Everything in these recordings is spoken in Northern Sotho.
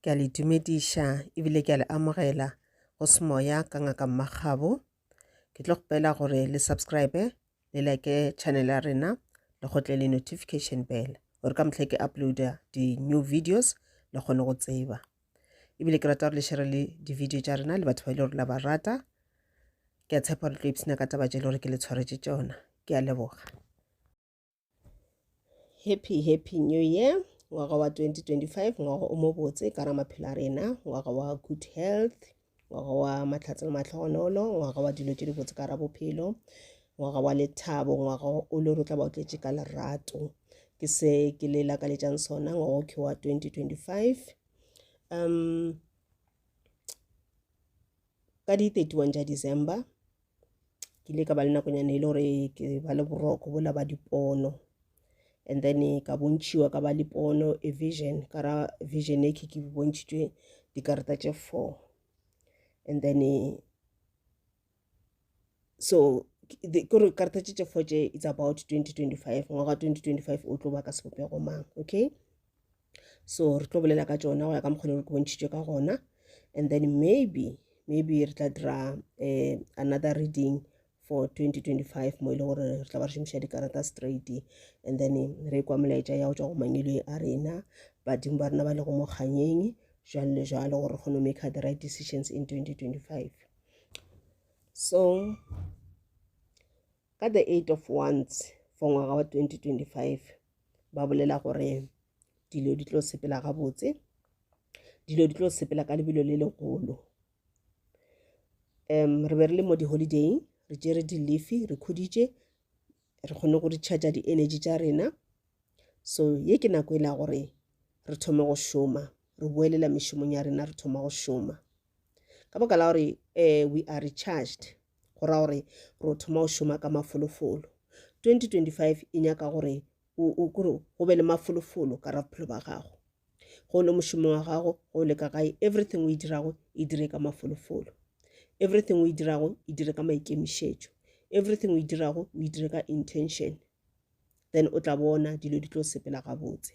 Ke a le dumediša ebile ke a le amogela go semoya ka ngaka mmagabo ke tlo kgopela gore le subscribe le like channel ya rena le gotle le notification bell gore ka mohlha ke uploada di-new videos le kgone go tseba ebile ke rata gore le shere le di-video tša rena le batho ba e le gore la ba rata ke a tshepa gore tlo ipsena ka taba tše e le gore ke le tshwaretše tšona ke a leboga happy happy new year ngwaga wa 2025 ngwaga o mobotse ka ra maphelo a rena ngwaga wa good health ngwaga wa matlhatse le matlhogonolo ngwaga wa dilo tse di botse ka ra bophelo ngwaga wa lethabo ngwaga o le rotla ba otletse ka lerato ke se ke le lakaletsang sona ngwaga o ke wa 2025 um ka di 31 tša december ke ile ka ba le nakonyana e le gore ke ba le boroko bola ba dipono and then ka bontšhiwa ka ba dipono a vision ka ra vision e ke ke bontšhitšwe dikarata tše four and then so kore karata tše tše four tše it's about 2025 ngwaga 2025 o tlo ba ka sebopego mang okay so re tlo bolela ka tšona go ya ka mokgone re bontšhitšwe ka gona and then maybe maybe re tla dira um another reading for 2025 mo e le gore re tla ba re šomiša dikarata straight and then re kwa molaetša ya go tšwa go mangwelwe a rena badimo ba rena ba le go mokganyeng jalo le jalo gore re kgone go make the right decisions in 2025 so Ka the 8 of Wands for ngwaga wa 2025 ba bolela gore dilo di tlo sepela gabotse, dilo di tlo sepela ka lebelo le legolo. Um re be re le mo di-holiday re tšere di-leafy re khuditše re kgone go recharger di-energy tša rena so ye ke nako e la gore re thome go šoma re boelela mešomong ya rena re thoma go šoma ka baka la gore um we are recharged go ra gore re o thoma o šoma ka mafolofolo 2025 e nyaka gore o kore go be le mafolofolo ka ra bophelo ba gago go le mošomo wa gago go le ka gae everything o e dirago e dire ka mafolofolo everything o e dirago e dire ka maikemišetšo everything o e dirago o e dire ka intention then o tla bona dilo di tlo sepela gabotse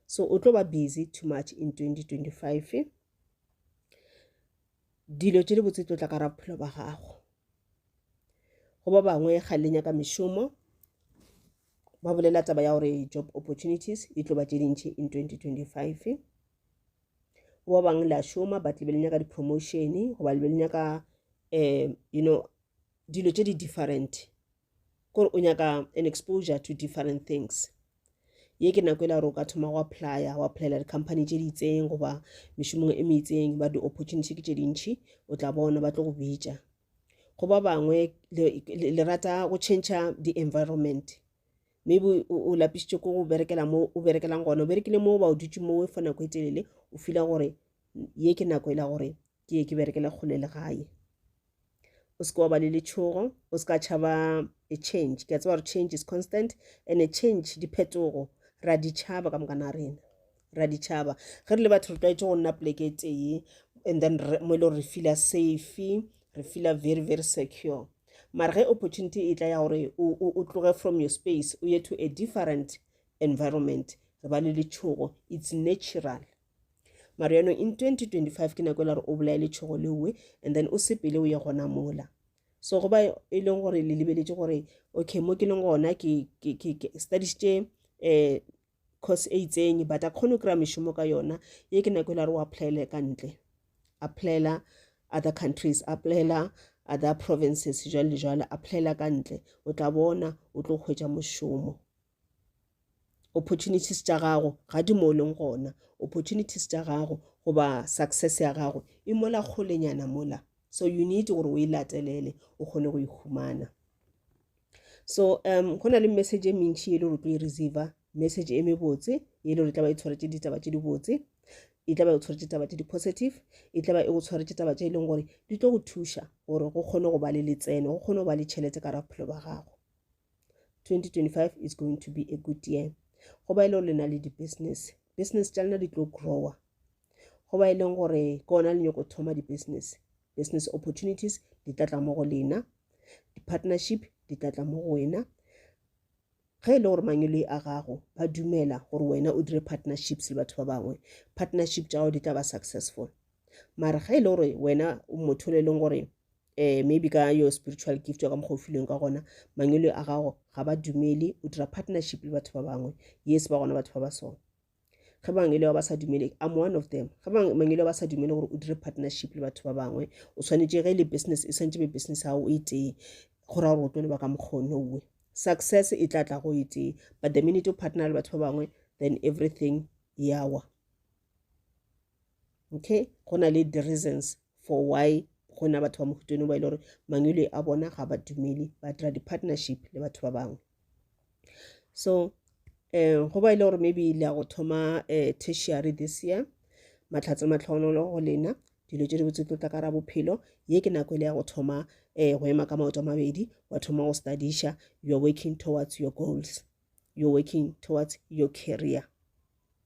so o tlo ba busy too much in 2025 dilo tše di botse tlo tla ka ra bophelo ba gago go ba bangwe ga le nyaka mešomo ba bolela taba ya gore job opportunities e tlo ba tše dintšhi in 2025 go ba bangwe la šoma but le be le nyaka di-promotion goba le be le nyaka um you know dilo tše di different kore o nyaka an exposure to different things ye ke nako e la gore o ka thoma go applya go applyela di-company tse di itseng goba mešomong e meitseng ba di-opportunity ke tse dintšhi o tla bona ba tlo go bitša go ba bangwe le rata go change di-environment maybe o lapisitse ko go berekela mo o berekelang gona o berekile mo ba o dutse mo for nako e telele o fila gore ye ke nako e la gore ke ye ke berekele kgole le gae o seke wa ba le letshogo o se ka tšhaba a change ke a tseba gore change is constant and a change diphetogo ra di tšhaba ka mokana rena ra di tšhaba ge re le batho re tlwaetse go nna poleke e tee and then mo e le gore re feela safe re feela very very secure mara ge opportunity e tla ya gore o tloge from your space o ye to a different environment re ba le letshogo it's natural maro yano in 2025 ke nako e la gore o bolaye letšhogo leowe and then o sepele o ye gona mola so go ba e leng gore le lebeletše gore okay mo ke leng gona ke studišitše um eh, course e itseng but a kgone go kry-a mešomo ka yona ye ke nako e la gore o applyele ka ntle applyela other countries applyela other provinces jwale le jwale applyela ka ntle o tla bona o tlo hwetša mošomo Opportunities tša gago ga di mo o leng gona. Opportunities tša gago goba success ya gago e mola kgolenyana mola. So you need gore o e latelele o kgone go e humana. So um go na le message e mentši e le gore o tlo e receiver message e mebotse e le gore e tla ba e tshwaretše ditaba tše dibotse e tla ba e tshwaretše taba tše di-positive e tla ba e go tshwaretše taba tše e leng gore di tlo go thuša gore go kgone go ba le letseno go kgone go ba le tšhelete ka ra bophelo ba gago 2025 is going to be a good year go ba e le gore le na le di-business business tša lena di tlo grower go ba e leng gore ke ona le nyoko thoma di-business business opportunities di tla tla mo go lena di-partnership di tla tla mo go wena ge e le gore mangelo a gago ba dumela gore wena o dire partnerships le batho ba bangwe partnership tša gago di tla ba successful mara ge e le gore wena o motho le e leng gore eh, maybe ka your spiritual gift wa ka mokgwa o filweng ka gona mangwele a gago ga ba dumele o dira partnership le batho ba bangwe yes ba gona batho ba ba sona ge bangwele ba ba sa dumele am one of them ge bangwele ba ba sa dumele gore o dire partnership le batho ba bangwe o tshwanetse ge e le business e tshwanetse be business ya gago e tee go ra gore o tlo le ba ka mokgwa nowe success e tla tla go e tee but the minute o partner le batho ba bangwe then everything yawa okay go na le di-reasons for why go na batho ba mohutone ba e le gore mangwele a bona ga ba dumele ba dira di-partnership le batho ba bangwe so um go ba e le gore maybe le ya go thoma um tertiary this year matlhatse matlhogonolo go lena dilo tse di botse tlo tla ka ra bophelo ye ke nako e le ya go thoma um go ema ka maoto a mabedi wa thoma go studiša you're working towards your goals you're working towards your career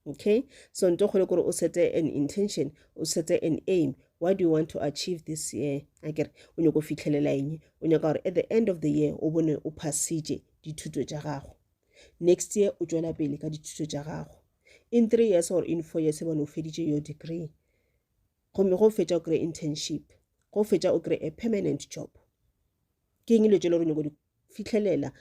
okay so nto kgole kore o sete an intention o sete an aim what do you want to achieve this year a kere o nyako fitlhelela eng o nyaka gore at the end of the year o bone o phasitše dithuto tša gago next year o tšwela pele ka dithuto tša gago in three years or in four years bone o feditše your degree gomme go fetša o kry internship go fetša o kry a permanent job ke eng dilo tse le gore nyako di fihlelela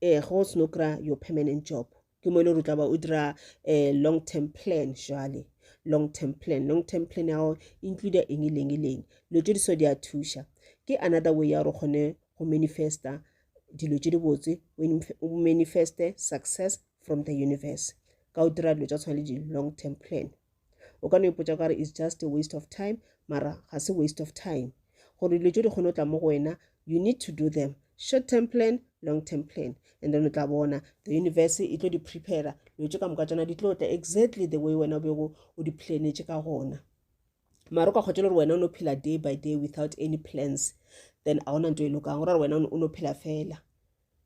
um ge o seno kry-a your permanent job ke mo e le gore o tla ba o dira um long term plan jale long term plan long term plan ya gago include eng leng e leng dilo tse di so di a thuša ke another way ya gore o kgone go manifesta dilo tse di botse o manifeste success from the universe ka o dira dilo tsa tshwana le di-long term plan O ka no ipotša ka re is just a waste of time, mara ga se waste of time. Gore dilo tšo di kgone go tla mo go wena, you need to do them. Short term plan, long term plan. And then o tla bona, the universe e tlo di prepare. Dilo tše ka moka tšona di tlo tla exactly the way wena o bego o di planetše ka gona. Mara o ka kgotšela gore wena o no phela day by day without any plans. Then a gona nto e lokang, gore wena o no phela fela.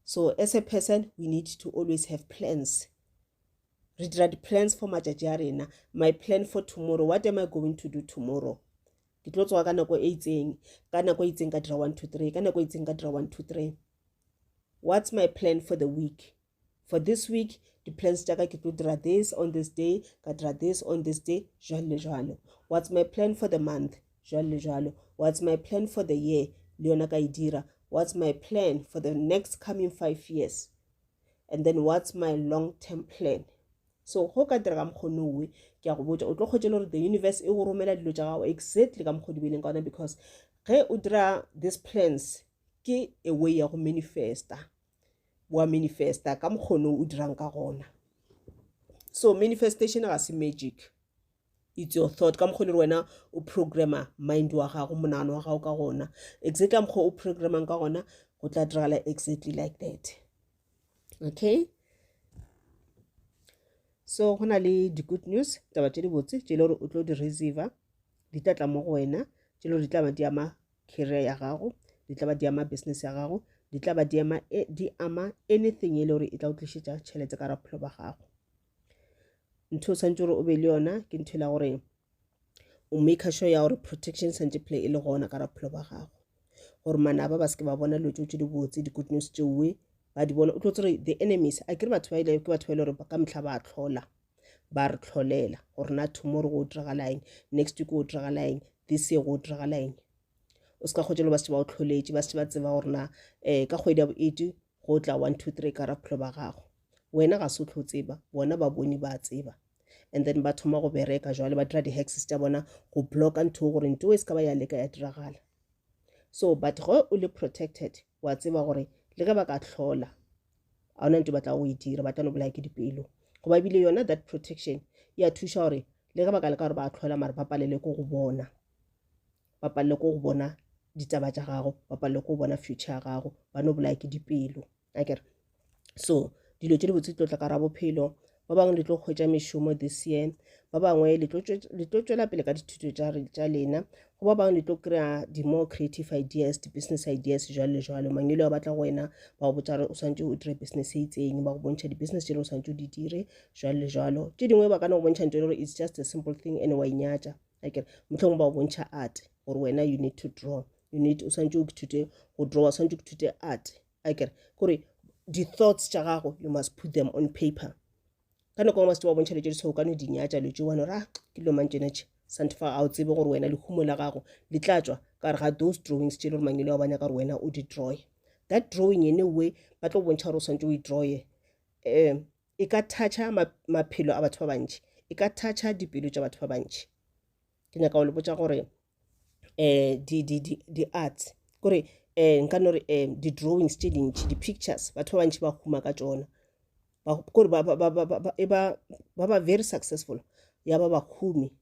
So as a person, we need to always have plans. Re dira di-plans for matšatši a rena. My plan for tomorrow, what am I going to do tomorrow? Ke tlo tsoga ka nako e itseng, ka nako e itseng ka dira one, two, three, ka nako e itseng ka dira one, two, three. What's my plan for the week? For this week, di-plans tša ka ke tlo dira this on this day, ka dira this on this day, jwalo le jwalo. What's my plan for the month? Jwalo le jwalo. What's my plan for the year? Le yona ka e dira. What's my plan for the next coming five years? and then what's my long term plan so go ka direga mokgone owe ke ya go botša o tlo kgwetše le gore the universe e go romela dilo tša gago exactly ka mokgwa dibeleng ka ona because ge o dira these plans ke a way ya go manifesta wa manifesta ka mokgone o dirang ka gona so manifestation ga se magic it's your thought ka mokgwa le wena o programma mind wa gago monagano wa gago ka gona exactly ka mokgwa o programmang ka gona go tla diragala exactly like that okay so go na le di-good news taba tše dibotse tše le gore o tlo di receiver di tla tla mo go wena tše le gore di tla ba di ama career ya gago di tla ba di ama business ya gago di tla ba di ama e, anything e le gore e tla o tlišetša tšhelete ka raphelo ba gago ntho o tshwanetse gore o be le yona ke ntho e la gore o maker sure ya gore protection santse phela e le gona ka raphelo ba gago gore manaba ba seke ba bona dilo tse tse di botse di-good news tseoe ba di bona o tlo tsere the enemies a kere batho ba ile ke batho ba ile gore ka metlha ba tlhola ba re tlholela gore na tomorrow go diragala eng next week go diragala eng this year go diragala eng o se ka kgotsa le ba se ba o tlholetše ba se ba tseba gore na um ka kgwedi ya bo eighty go tla one two three ka ra bophelo ba gago wena ga se o tlo tseba bona ba bone ba tseba and then ba thoma go bereka jwale ba dira di-hexes tša bona go blocka ntho gore nto e se ka ba ya leka ya diragala so but ge o le protected wa tseba gore le ge ba ka tlhola ga ona nto batla go e dira ba tla no bolaya ke dipelo goba ebile yona that protection ya thuša gore le ge ba ka leka gore ba tlhola mare ba palele ko go bona ba palelwe ke go bona ditaba tša gago ba palelwe ke go bona future ya gago ba no bolaya ke dipelo a kere so dilo tše dibotse di tlo tla ka ra bophelo ba bangwe le tlo kgwetsa mešomo this year ba bangwe le tlo tšwela pele ka dithuto tša lena go ba bangwe le tlo kry-a di-more creative ideas di-business ideas jalo le jalo mangelo a batla go wena ba go botsa gore o swantse o dire business e itseng ba go bontšha di-business tše le o swantse o di dire jalo le jalo tše dingwe ba ka no go bontšha ntse gore it's just a simple thing and wa inyatša akere motlhong ba o bontšha art gore wena you need to draw you need o tshwanetse o kithute go draw o tshwanetse o kithute art akere kore di-thoughts tša gago you must put them on paper ka nako ngwe se wa bontšha letše ditshwao ka no di nyatša letše wane ra ah, ke lo mang tšena tše sante fa ga o tsebe gore wena lehumo la gago le tla tswa ka gare ga those drawings tše le gore mangele wa banya ka gore wena o di drawe that drawing ene way ba tlo bontšha gore o tshwanetse o e drawe um e ka thatšha maphelo a batho ba bantši e ka thatšha dipelo tša batho ba bantši ke nyaka go le botsa gore um di-arts kore um nka no re um di-drawings tše dintši di-pictures batho ba bantši ba huma ka tsona kore ba ba very successful ya ba bahumi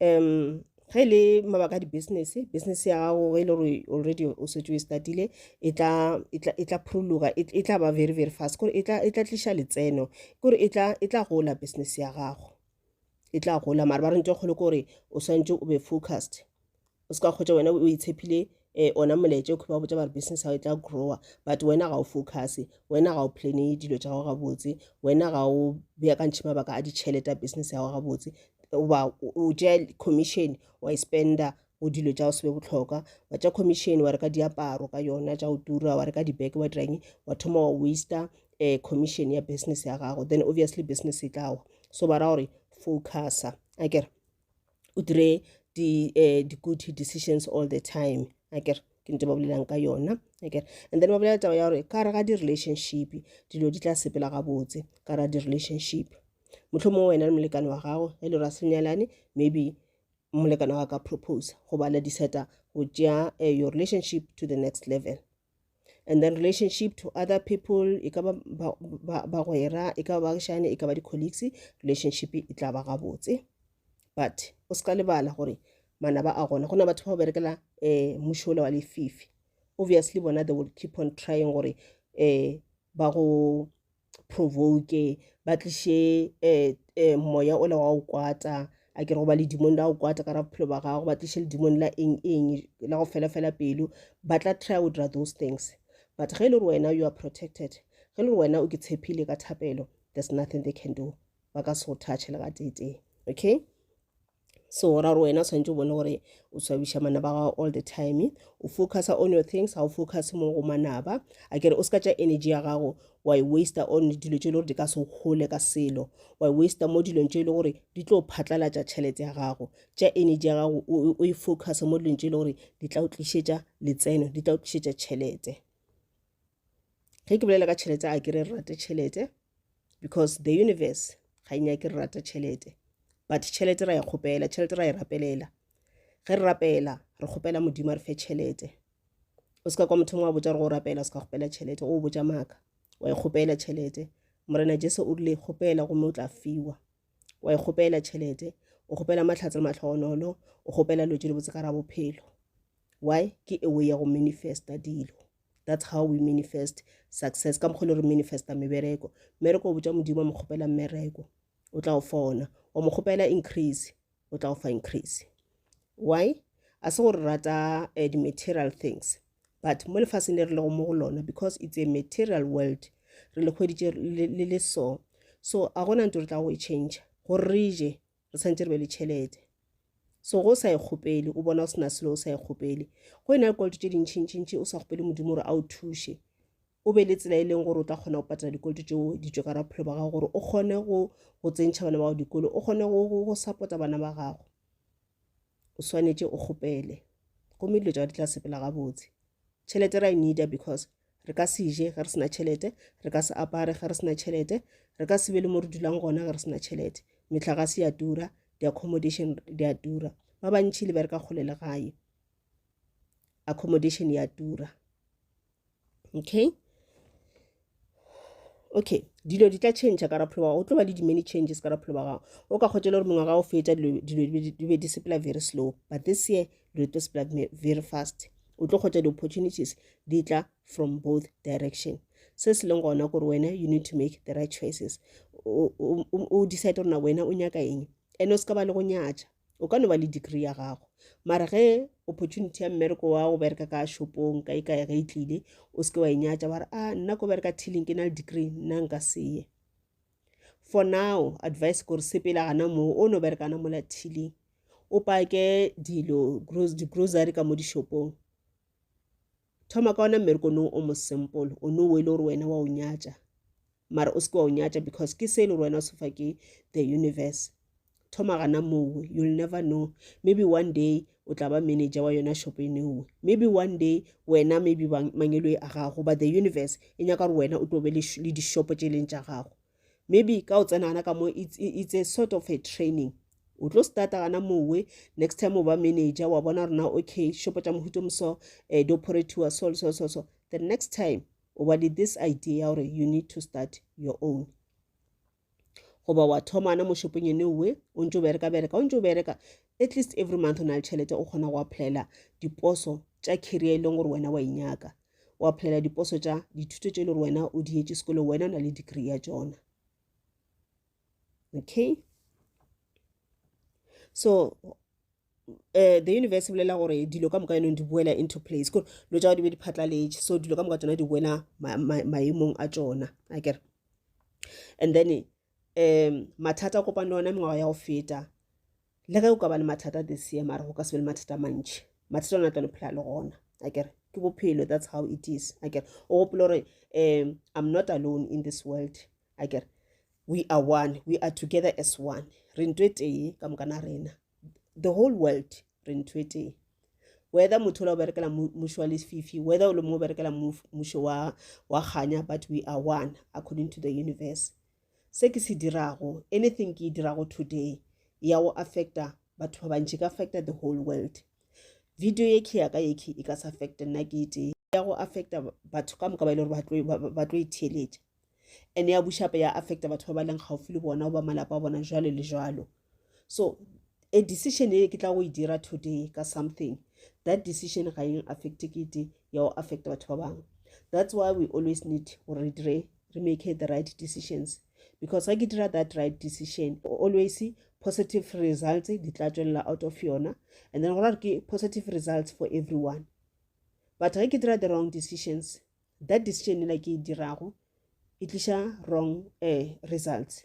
um ge e le mabaka a di-business business ya gago ge e le gore already o setse o e statile e tla e tla- e tla phuruluga e e tla ba very very fast kore e tla e tla tliša letseno kore e tla e tla gola business ya gago e tla gola mara ba re ntho e kgolo kore o swantse o be focused o se ka kgotsa wena o itshepile eh ona moletse o khuba go botsa ba re business ga e tla grower but wena ga o focus wena ga o plane dilo tša gago gabotse wena ga o beakantšhe mabaka a ditšhelete a business ya gago gabotse oba o tšea commission wa e spenda go dilo tša go sebe botlhokwa wa tša commission wa reka diaparo ka yona tša go tura wa reka dibeke wa dirang wa thoma wa waster um commission ya business ya gago then obviously business e tlawa so ba ra gore focusa a kere o dire di, uh, di good decisions all the time akere ke ntse ba bolelang ka yona akere and then ba bolela taba ya gore ka re ga di-relationship dilo di tla sepela gabotse ka ra di-relationship motlho mongwe wena le molekane wa gago e le ra senyalane maybe molekane wa ka propose goba la diseta go tšea eh, your relationship to the next level and then relationship to other people e ka bagwera e ka ba bagišane e ka ba di-colleagues relationship e tla ba gabotse but o se ka lebala gore manaba a gona go na batho ba go berekela um eh, mošola wa lefifi obviously bona they will keep on trying gore um ba go provoke ba tliše eh, eh, moya ola wa go kwata a ke re goba ledimong la go kwata ka ra bophelo ba gago ba tliše ledimong la eng eng la go fela fela pelo ba tla try go dira those things but ge e le gore wena you are protected ge e le gore wena o ke tshepile ka thapelo there's nothing they can do ba ka se go thatšhe le ga tetee okay so ra gore wena tshwanetse o bone gore o swabiša manaba gago all the time o focusa on your things ga o focus mo go manaba a kere o se ka tša energy ya gago wa e waster on dilo tše e le gore di ka se gole ka selo wa e waster mo dilong tše e le gore di tlo phatlalatša tšhelete ya gago tša energy ya gago o e focuse mo dilong tše e le gore di tla o tlišetša letseno di tla o tlišetša tšhelete ge ke bolela ka tšhelete a ke re re rate tšhelete because the universe ga e nyake re rata tšhelete but tšhelete ra e kgopela tšhelete ra e rapelela ge re rapela re kgopela modimo a re fe tšhelete o se ka kwa mothong wa botsa re go rapela o se ka kgopela tšhelete o botsa maaka wa e kgopela tšhelete morena jesu o rile kgopela gomme o tla fiwa wa e kgopela tšhelete o kgopela matlhatse le matlhogonolo o kgopela lotse le botse ka ra bophelo why ke ewe ya go manifesta dilo That's how we manifest success ka mokgwa le re manifesta mebereko mmereko o botša modimo wa mo kgopela mmereko o tla o fa ona wa mo kgopela increase o tla o fa increase why a se gore rata uh, di-material things but mo lefaseng le re lego mo go lona because it's a material world re le kgweditše le le so so a gona ntse re tla go e change gore re je re tshwanetse re be le tšhelete so go sa e kgopele o bona o sena selo o sa e kgopele go e na le koloto tše dintšhintšhintši o sa kgopele modimo gore a o thuše o be le tsela e leng gore o tla kgona go patela dikoloto tšeo ditso ka raphelo ba gago gore o kgone go tsentšha bana ba gago dikolo o kgone go support-a bana ba gago o swanetše o kgopele gomme dilo tšao di tla sepela gabotse tšhelete ra e needa because re ka se je ge re sena tšhelete re ka se apare ge re sena tšhelete re ka se be le mo re dulang gona ge re sena tšhelete metlagase ya tura di-accommodation di a tura ba bantšhi le bereka kgole le gae accommodation ya tura okay okay dilo di tla change ka rapholo wa o tlo ba le di-many changes ka rapholo wa gago o ka kgotela gore mengwaga o fetsa dilo di be di sepela very slow but this year dilo tlo sepela very fast o tlo kgotsa di-opportunities di tla from both direction se se leng gona gore wena you need to make the right choices o decide gore na wena o nyaka eng and o se ka ba le go nyatša o ka no ba le degree ya gago mara ge opportunity ya mmereko wa go bereka ka shopong ka e kae ge e tlile o seke wa e nyatša wa re a ah, nna ko bereka tilling ke na le degree nna nka seye for now advice kore sepela gana moo o no berekana mola tilling o pake dilo di-grocery ka mo dishopong thoma ka ona mmereko no o mo simple o no e le gore wena wa o nyatša mara o se ke wa o nyatša because ke se e le gore wena o sefa ke the universe thoma gana mowe you'll never know maybe one day o tla ba manager wa yona shop e newe maybe one day wena maybe mangelo a gago but the universe e nyaka gore wena o tlo be le dishopo tše e leng tša gago maybe ka o tsena gana ka mo it's, it's a sort of a training o tlo starta gana mowe next time o ba manager wa bona rona okay shopo tša mohuto moso um eh, dioperatiwa so so so so the next time o ba le this idea ya gore you need to start your own goba wa thoma ana mo shopong ene owe o ntse o bereka bereka o ntse o bereka at least every month o na le tšhelete o kgona go applyela diposo tša career e leng gore wena wa inyaka wa phelela diposo tša dithuto tše e le gore wena o dietše sekolo wena o na le degree ya tšona okay so uh, the universe bolela gore dilo ka moka yanong di boela into place kore dilo tša go di be di phatlaletše so dilo ka moka tsona di boela maemong a tšona a kere and then um mathata a kopane le ona mengwaga ya go feta le ge o ka ba le mathata this year mara go ka se be le mathata a mantši mathata ona tla no phela le gona a kere ke bophelo that's how it is a kere o gopole gore um i'm not alone in this world a kere we are one we are together as one re ntho e tee ka mokana rena the whole world re ntho e tee whether motho ola o berekela mušo wa lefifi whether o le mongwe o berekela mušo wa kganya but we are one according to the universe se ke se dirago anything ke e dirago today ya go affecta batho ba bantši ka affecta the whole world video ye ke yaka yeke e ka se affecta nna ke ete ya go affecta batho ka moka ba e le gore ba tlo itheeletša and ya bušape ya affecta batho ba ba leng gaufi le bona goba malapa a bona jalo le jalo so a decision e ke tla go e dira today ka something that decision ga eng affect kete ya go affect batho ba bangwe that's why we always need gore re dire re make the right decisions because ga ke dira that right decision always positive results di tla tswelela out of yona and then gore ke positive results for everyone but ga ke dira the wrong decisions that decision e la ke e dirago e tliša wrong uh, results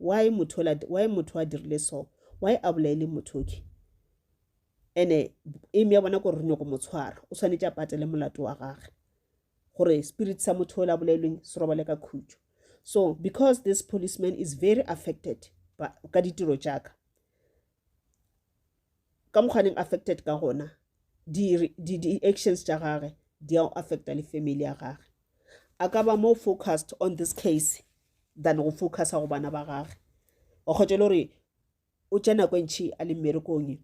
why motho ola why motho a dirile so why a bolaile motho okay ene aim ya bona gore re nyoko mo tshwara o tshwanetse a patele molato wa gage gore spirit sa motho ola bolailweng se robale ka khutšo so because this policeman is very affected ka ditiro jaaka ka mokganeng affected ka gona di-actions tša gage di a affecta le family ya gage a ka ba more focused on this case than go focusa go bana ba gage wa kgotsa le gore o tša nako e ntšhi a le mmerekong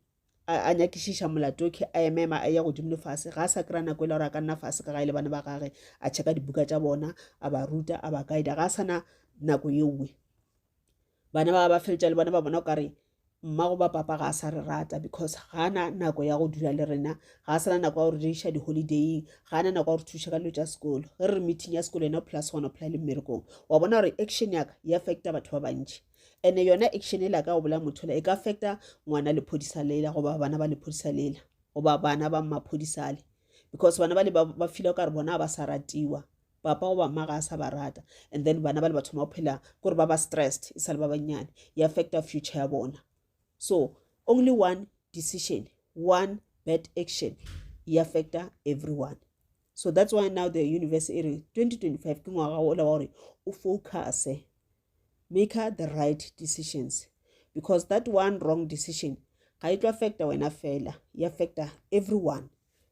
a nyakišiša molato ke a emema a ya godimo le fase ga a sa kry-a nako e le gore a ka nna fase ka gae le bana ba gage a checka dibuka tša bona a ba ruta a ba guida ga a sana nako ye nngwe bana ba ba feletša le bona ba bona o kare Mma goba papa ga a sa re rata because ga a na nako ya go dula le rena ga a sana nako ya gore re iša di-holidaying ga a na nako ya gore thuša ka dilo tša sekolo ge re re meeting ya sekolo yena o phela segona o phela le mmerekong wa bona gore action yaka e affecta batho ba bantši and yona action e laka o bolaya motho e ka affecta ngwana lephodisa lela goba bana ba lephodisa lela goba bana ba mmaphodisale because bana ba le ba fila o ka re bona ba sa ratiwa papa goba mma ga a sa ba rata and then bana ba le ba thoma go phela kore ba ba stressed e sale ba bannyane e affecta future ya bona so only one decision one bad action e affecta everyone so that's why now the universe e re 2025 ke ngwaga o la wa gore o focuse make her the right decisions because that one wrong decision ga e tlo affecta wena fela e affecta everyone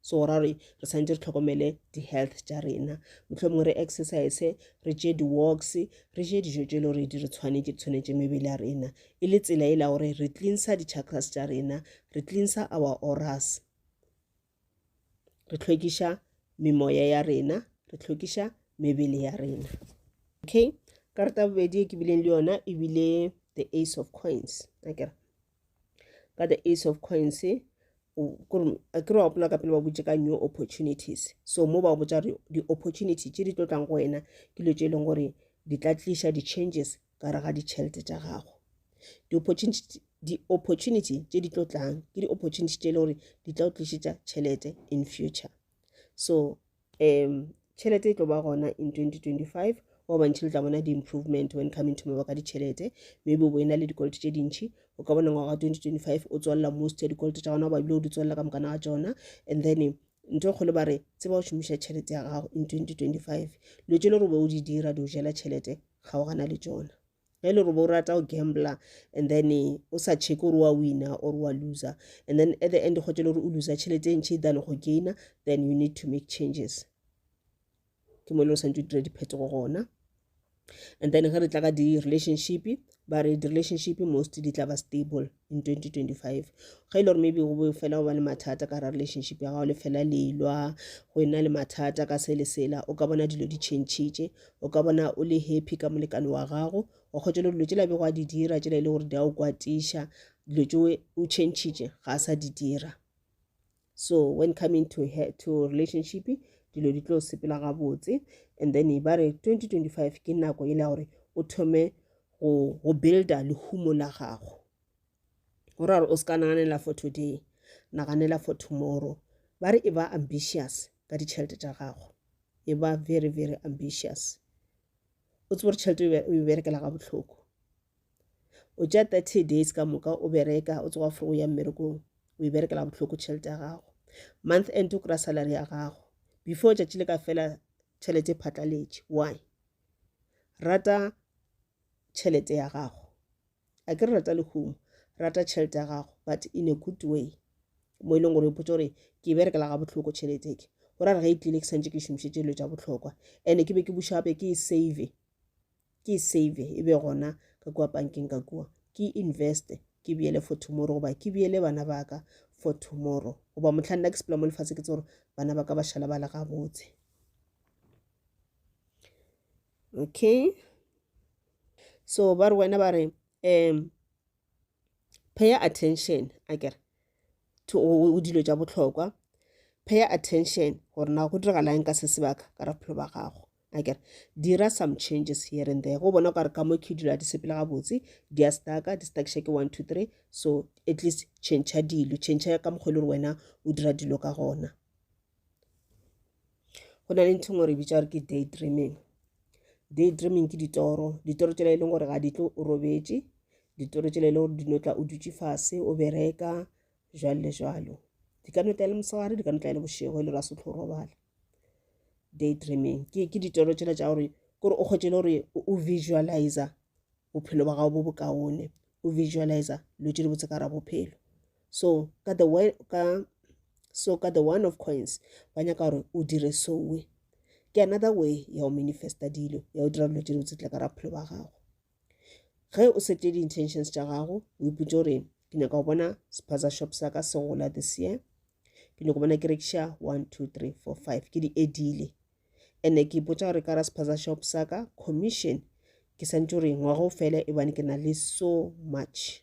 so go ra gore re santse re tlhokomele di-health tša rena mohlomongwe re exercise re tše di-walks re je dijo tše e le gore di re tshwanetse di tshwanetse mebele ya rena e le tsela e la gore re cleansa di-chakras tša rena re cleansa our oras re tlhwekiša memoya ya rena re tlhwekiša mebele ya rena okay karata bobedi e ke bileng le yona e bile the ace of coins akere ka the ace of coins kere wa gopola ka pele ba botse ka new opportunities so mo ba botsa gore di-opportunity tse di tlo tlang go wena ke dilo tse e leng gore di tla tliša di-changes ka re ga ditšhelete tša gago di-opportunity tse di tlo tlang ke di-opportunity tse e leng gore di tla o tlišetša tšhelete in future so um tšhelete e tlo ba gona in 2025 wa bantšhi le tla bona di-improvement when coming to maba ka ditšhelete maybe o bo e na le dikoloto tše dintšhi o ka bona ngwaga 2025 o tswalela most ya dikoloto tša gona o babile o di tswalela ka mokana ga tsona and then nto e kgolo ba re tseba o šomiša tšhelete ya gago in 2025 lo tše le gore o be o di dira di o jela tšhelete ga o gana le tsona ge le gore bo rata go gambler and then eh, o sa check gore wa winner or wa loser and then at the end kgotse le gore o loser tšhelete e ntšhi than go gainer then you need to make changes ke mo e le gore santse o dira diphetogo gona and then ge re tla ka di-relationship ba re di-relationship mostly di tla ba stable in 2025 ga e le gore maybe go be fela go ba le mathata ka ra relationship ya gago le fela lelwa go ena le mathata ka se le sela o ka bona dilo di changitše o ka bona o le happy ka molekane wa gago o kgotse le dilo tšela bego a di dira tšela e le gore di a o kwatiša dilo tšeo o changitše ga a sa di dira so when coming to her to relationship dilo di tlo sepela gabotse and then ba re 2025 ke nako e le gore o thome go go builda lehumo la gago go ra gore o se ka naganela for today naganela for tomorrow ba re e ba ambitious ka ditšhelete tša gago e ba very very ambitious o tsebo gore tšhelete o e berekela ga bohloko o tša 30 days ka moka o bereka o tsoga fore o ya mmerekong o e berekela bohloko tšhelete ya gago month end o kry-a salary ya gago before tšatši le ka fela tšhelete e phatlaletše why rata tšhelete ya gago a ke re rata lehumo rata tšhelete ya gago but in a good way mo e leng gore ipotsa gore ke e berekela ga bohloko tšhelete ke go ra re ge e tlile ke santse ke šomišetše dilo tša bohlokwa and-e ke be ke bušape ke e save ke e save e be gona ka kua pankeng ka kua ke e investe ke beele for tomorrow goba ke beele bana ba ka for tomorrow goba mohla nna ke sepela mo lefatshe ke tse gore bana ba ka ba šala ba le gabotse okay so ba re wena ba re um pay attention a kere to o dilo tša bohlokwa pay attention gore na go diragalang ka se sebaka ka ra phelo ba gago a kere dira some changes here and there go bona o ka re ka mo ke dilo a di sepele gabotse di a staka di stakša ke one two three so at least change dilo change ka mokgwa e le gore wena o dira dilo ka gona go na le ntho ngwe re bitša gore ke day dreaming day dreaming ke ditoro ditoro tsela e leng gore ga di tlo o robetše ditoro tsela e leng gore di no tla o dutše fase o bereka jwalo le jwalo di ka no tla e le mosegare di ka no tla e le bošego e le ra setlho robala day dreaming ke ke ditoro tsela tša gore kore o kgwetse le gore o visualiza bophelo ba gago bo bokaone o visualiza lo tse di botse ka ra bophelo so ka the way ka so ka the one of coins ba nyaka gore o dire sowe ke another way ya go manifesta dilo ya go dira dilo tse dibotse tla ka ra bophelo ba gago ge o sete di-intentions tša gago o ipotse gore ke nyaka go bona spaza shop sa ka se gola this year ke nyako bona ke rekiša one two three four five ke di edile and-e ke ipotsa gore ka ra spaza shop sa ka commission ke santse gore ngwago fele ebane ke na le so much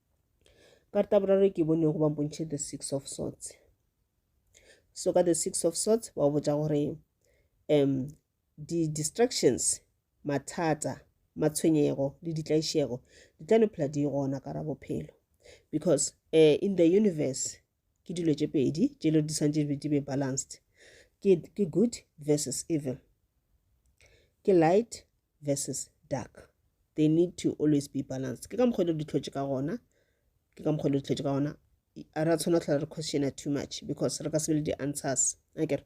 karata boraro e ke bonego ba mpontšhe the six of sorts so ka the six of sorts ba botša gore um di-distractions mathata matshwenyego le ditlaišego di tla no phela di gona ka ra bophelo because uh, in the universe ke dilo tše pedi tše le di santse di be balanced ke, ke good versus evil ke light versus dark they need to always be balanced ke ka mokgwa le di tlhotse ka gona ke ka mokgwa le di tlhotse ka gona a re a tshwana tlhola re questiona too much because re ka se be le di-answers akere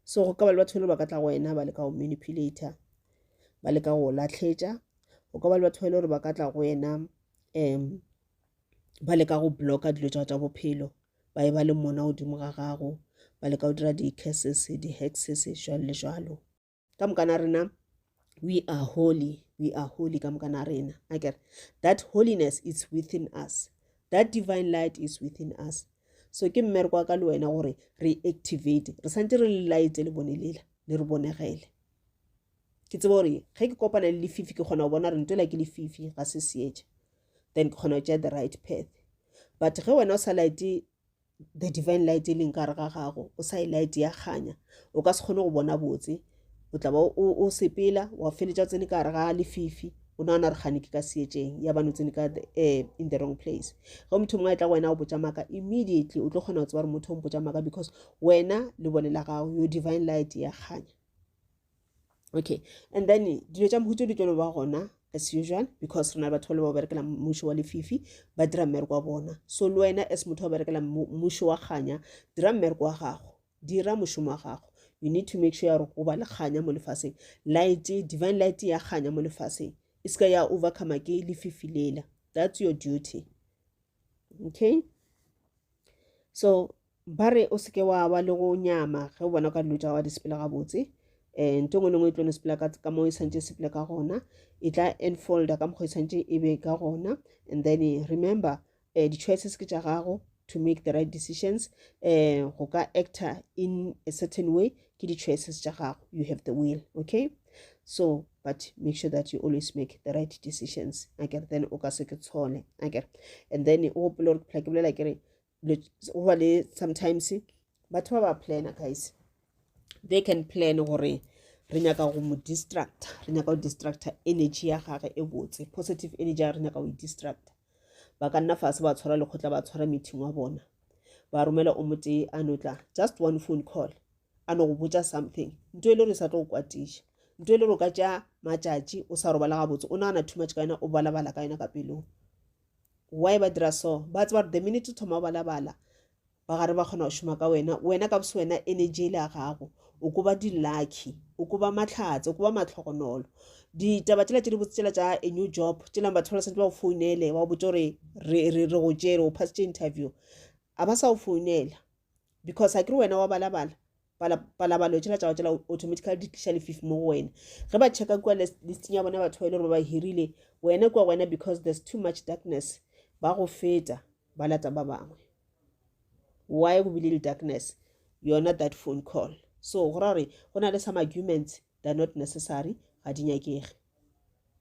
so go ka ba le batho ba le ba ka tla go wena ba le ka go manipulator ba le ka go lahletša go ka ba le batho ba e le gore ba ka tla go wena um ba leka go blocka dilo tša tša bophelo ba e ba le mona godimo ga gago ba leka go dira di-curses di-hexes jalo le jalo ka moka na rena we are holy we are holy ka moka na rena a kere that holiness is within us that divine light is within us so ke mmereko wa ka le wena gore re activate re santse re le light le bone lela le re bonegele ke tseba gore ge ke kopana le lefifi ke kgona go bona gore nto la ke lefifi ga se seetša then ke kgona go tšea the right path but ge wena o sa light the divine light e leng kare ga gago o sa e light ya kganya o ka se kgone go bona botse o tla ba o sepela wa feletša tsene ka gare ga lefifi o nagana re gane ke ka seetšeng ya bane o tsene ka um in the wrong place ge motho mongwe a tla go wena o botsa maaka immediately o tlo kgona go tseba gore motho o mpotsa maaka because wena le bone la gago yo divine light ya kganya okay and then dilo tša mmušo di tlo ba gona as usual because re na batho le ba berekela mmušo wa lefifi ba dira mmereko wa bona so le wena as motho wa berekela mmušo wa kganya dira mmereko wa gago dira mošomo wa gago you need to make sure ya gore o ba le kganya mo lefaseng light divine light ya kganya mo lefaseng e seka ya overcome ke lefifi lela that's your duty okay so Ba re o se ke wa ba le go nyama ge o bona o ka dilo tša gago di sepela gabotse. Um nto e nngwe le nngwe e tlo no sepela ka mo e santse e sepela ka gona e tla enfolda ka mokgwa e santse e be ka gona and then remember um di-choices ke tša gago to make the right decisions um go ka actor in a certain way ke di-choices tša gago you have the will okay so but make sure that you always make the right decisions akere then o ka se ke tshole akere and then o gopole gore phela ke bolela ke re go ba le sometimes batho ba ba plana guys they can plan gore re nyaka go mo distracta re nyaka go distracta energy ya gage e botse positive energy ya re nyaka go e distracta ba ka nna fase ba tshwara lekgotla ba tshwara meeting wa bona ba romela o motee a no tla just one phone call a no go botsa something nto e le gore sa tlo go kwatiša nto e le gore o ka tša matšatši o sa robala gabotse o nagana too much ka yena o balabala ka yena ka pelong Why ba dira so? Ba tseba gore the minute o thoma o balabala, ba gare ba kgona go šoma ka wena. Wena ka boswena energy e le ya gago. O ko ba di-lucky, o ko ba mahlatse, o ko ba matlhogonolo. Ditaba tšela tše di botse tšela tša a new job, tšelang batho ba santse ba go founele, ba go botse gore re re re go tšere, o phasitše interview. A ba sa go founela because a ke re wena wa balabala. palabalo tšela tšago tšela automatically di tliša lefifi mo go wena ge ba checka kua listing ya bona batho ba e le gore ba ba hirile wena kua wena because there's too much darkness ba go feta ba lata ba bangwe why go bile le darkness yona that phone call so go ra gore go na le some arguments they're not necessary ga di nyakege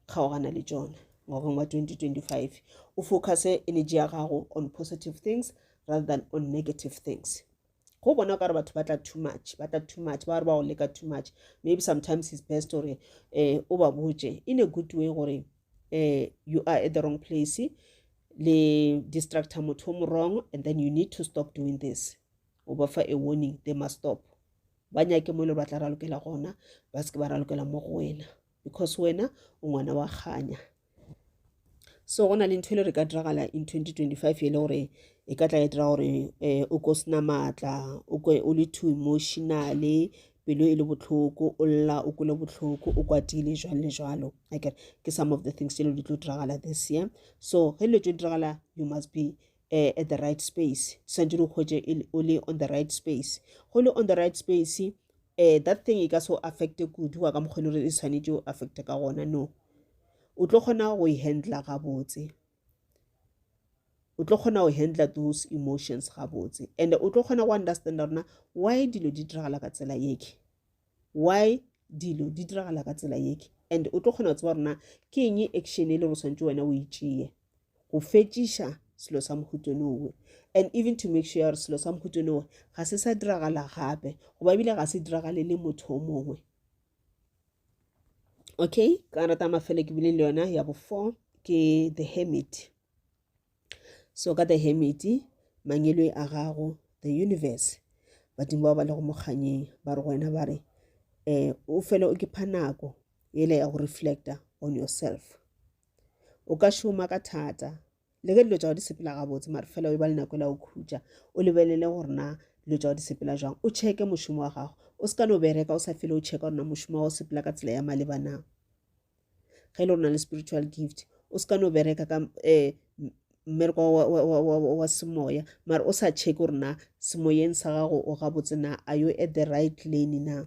kgaogana le tsona ngwageng wa 2025 o focuse energy ya gago on positive things rather than on negative things go bona o ka re batho ba tla too much ba tla too much ba re ba go leka too much maybe sometimes it's best gore um o ba botse in a good way gore um you are at the wrong place le distractor motho o mo wrong and then you need to stop doing this o ba fa a warning they must stop ba nyake mo e le gore ba tla ralokela gona ba se ke ba ralokela mo go wena because wena o ngwana wa kganya so go na le ntho e le re ka diragala in 2025 e le gore e ka tla e dira gore um o ko sena maatla o kwe o le too emotionale pelo e le botlhoko o lla o kole botlhoko o kwatile jalo le jalo akere ke some of the things tse le di tlo diragala this year so ge dilo tse di diragala you must be uh, at the right space swanetse di hwetše o le on the right space go le on the right space uh, that thing e ka so affecte kudu wa ka mokgwele gore e swanetse o affecte ka gona no o tlo kgona go e handla gabotse o tlo kgona go handla those emotions gabotse and o tlo kgona go understanda rona why dilo di diragala ka tsela yeke why dilo di diragala ka tsela yeke and o tlo kgona go tseba rona ke eng action e le go tshwanetse wena o e tšeye go fetšiša selo sa mohuto lowe and even to make sure gore selo sa mohuto lowe ga se sa diragala gape goba ebile ga se diragale le motho o mongwe okay ka rata mafelo ke bile le yona ya bo four ke the hermit so ka the hermit mangeloi a gago the universe badimo ba ba le go mokganyeng ba re go wena ba re um o fele o ke pha nako ele ya go reflecta on yourself o ka šoma ka thata le ge dilo tša go di sepela gabotse mare fela o e ba le nako e la o khutša o lebelele gore na dilo tša go di sepela jwang o cheke mošomo wa gago o se ka no bereka o sa fele o checka gore na mošomo wa go sepela ka tsela ya maleba na ge e le gore na le spiritual gift o se ka no bereka ka um mmereko wa semoya mare o sa checke gore na semoyeng sa gago o gabotse na a yo at the right lane na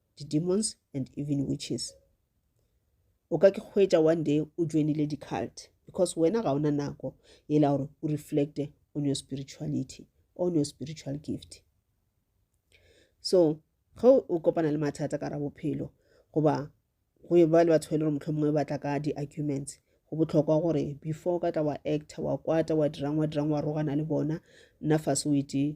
di demons and even witches o ka ke hwetša one day o joinile di-cult because wena ga ona nako e la gore o reflecte on your spirituality on your spiritual gift so ge o kopana le mathata ka ra bophelo goba go e ba le batho ba e le gore motlho mongwe batla ka di-arguments go botlhokwa gore before ka tla wa actor wa kwata wa dirang wa dirang wa rogana le bona nna fase o ete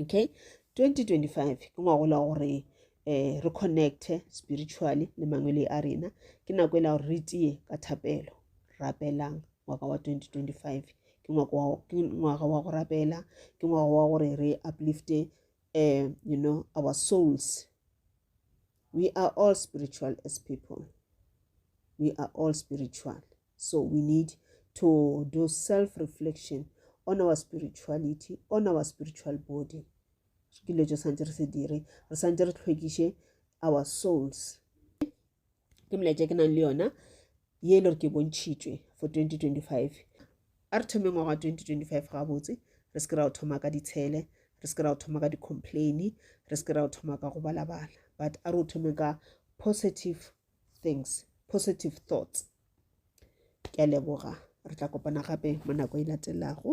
okay 2025 ke ngwagola gore um re connecte spiritually le mangwele a rena ke nako e la gore re tie ka thapelo rapelang ngwaka wa 2025 ke ngwaga wa go rapela ke ngwaga wa gore re uplifte um you know our souls we are all spiritual as people we are all spiritual So we need to do self reflection on our spirituality, on our spiritual body. Ke dilo tse santse re se dire, re santse re tlhwekiše our souls. Ke molaetša ke nang le yona ye e le gore ke bontšhitšwe for 2025 a re thome ngwaga wa 2025 gabotse re se ke ra o thoma ka ditshele re se ke ra o thoma ka di-complaini re se ke ra o thoma ka go balabala but a re o thome ka positive things positive thoughts ke a leboga re tla kopana gape mo nako e latelago